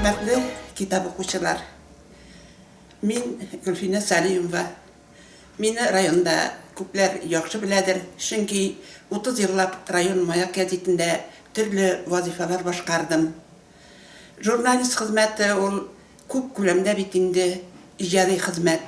Хөрмәтле китап укучылар! Мин Гөлфинә Сәлимова. Мине районда күпләр яхшы беләдер, чөнки 30 еллап район Маяк гәзитендә төрле вазыйфалар башкардым. Журналист хезмәте ул Күп күләмдә бит инде иҗади хезмәт.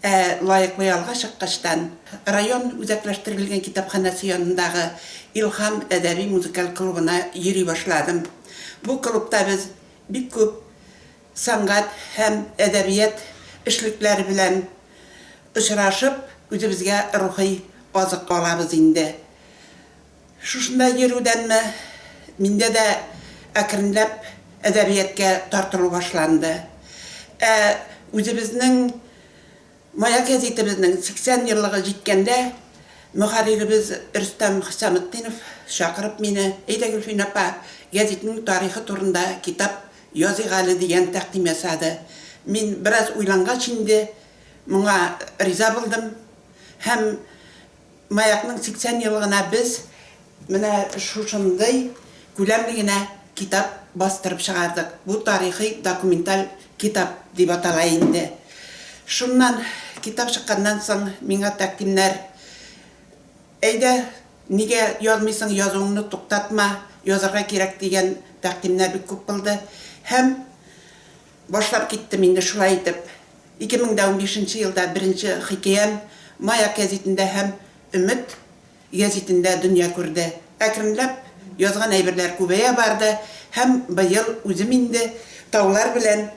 Ә лаеклы ялга чыккачтан, район үзәкләштерелгән китапханәсе янындагы Илһам әдәби-музыкаль клубына йөри башладым. Бу клубта без бик күп сәнгать һәм әдәбият эшлекләре белән очрашып, үзебезгә рухи азык алабыз инде. Шушында йөрүдәнме, миндә дә әкренләп әдәбияткә тартылу башланды. Ә үзебезнең Маяк гәзитебезнең 80 еллыгы җиткәндә, мөхәрриребез Рөстәм Хөсаметдинов чакырып мине, Әйдә, Гөлфин апа, гәзитнең тарихы турында китап языйк әле, дигән тәкъдим ясады. Мин бераз уйлангач инде, моңа риза булдым һәм Маякның 80 еллыгына без менә шушындый күләмле генә китап бастырып чыгардык. Бу тарихи документаль китап дип атала инде. Шуннан, китап чыкканнан соң, миңа тәкъдимнәр, Әйдә, нигә язмыйсың, язуыңны туктатма, язарга кирәк, дигән тәкъдимнәр бик күп булды. Һәм Башлап киттем инде шулай итеп. Ике мең дә унбишенче елда беренче хикәям Маяк гәзитендә һәм Өмет гәзитендә дөнья күрде. Әкренләп язган әйберләр күбәя барды һәм быел үзем инде Таулар белән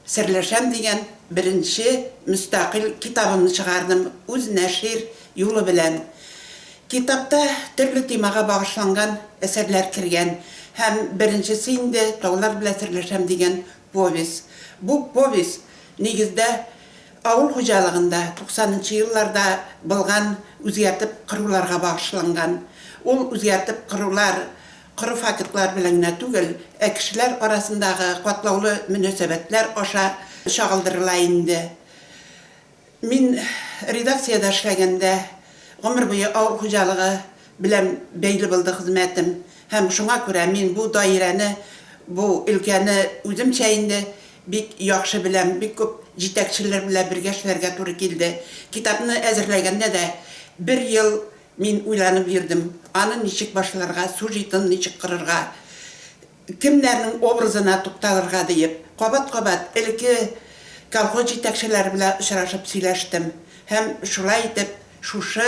серләшәм дигән беренче мөстәкыйль китабымны чыгардым, үз нәшир юлы белән. Китапта төрле темага багышланган әсәрләр кергән һәм беренчесе инде Таулар белән серләшәм дигән повесть. Бу повесть, нигездә, авыл хуҗалыгында туксанынчы елларда былган үзгәртеп коруларга багышланган. Ул үзгәртеп корулар коры фактлар белән генә түгел, ә кешеләр арасындагы катлаулы мөнәсәбәтләр аша чагылдырыла инде. Мин редакциядә эшләгәндә гомер буе авыл хуҗалыгы белән бәйле булды хезмәтем һәм шуңа күрә мин бу даирәне, бу өлкәне үземчә инде бик яхшы беләм, бик күп җитәкчеләр белән бергә эшләргә туры килде. Китапны әзерләгәндә дә бер ел мин уйланып йөрдем, аны ничек башларга, сюжетын ничек корырга, Кемнәрнең образына тукталырга диеп, кабат-кабат элекке колхоз җитәкчеләре белән очрашып сөйләштем һәм шулай итеп шушы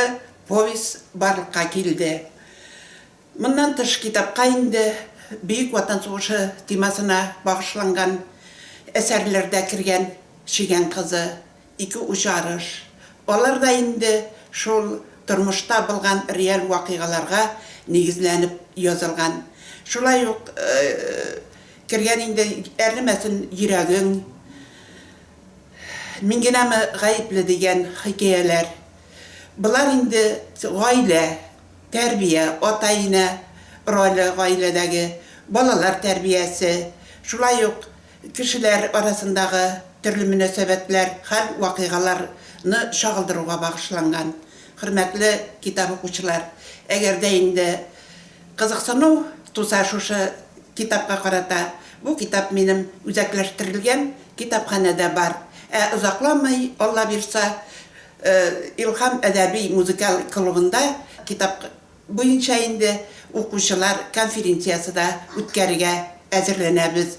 повесть барлыкка килде. Моннан тыш китапка инде Бөек Ватан сугышы темасына багышланган әсәрләр дә кергән, Чегән кызы, Ике уч арыш. Алар да инде шул тормышта булган реаль вакыйгаларга нигезләнеп язылган. Шулай ук кергән инде Әрнемәсен йөрәгең, Мин генәме гаепле дигән хикәяләр. Болар инде гаилә, тәрбия, ата-инә роле гаиләдәге, балалар тәрбиясе, шулай ук кешеләр арасындагы төрле мөнәсәбәтләр, хәл-вакыйгаларны чагылдыруга багышланган. Хөрмәтле китап укучылар, әгәр дә инде кызыксыну туса шушы китапка карата, бу китап минем үзәкләштерелгән китапханәдә бар. Ә озакламый, Алла бирса, Илһам әдәби-музыкаль клубында китап. буенча инде укучылар конференциясе дә үткәрергә әзерләнәбез.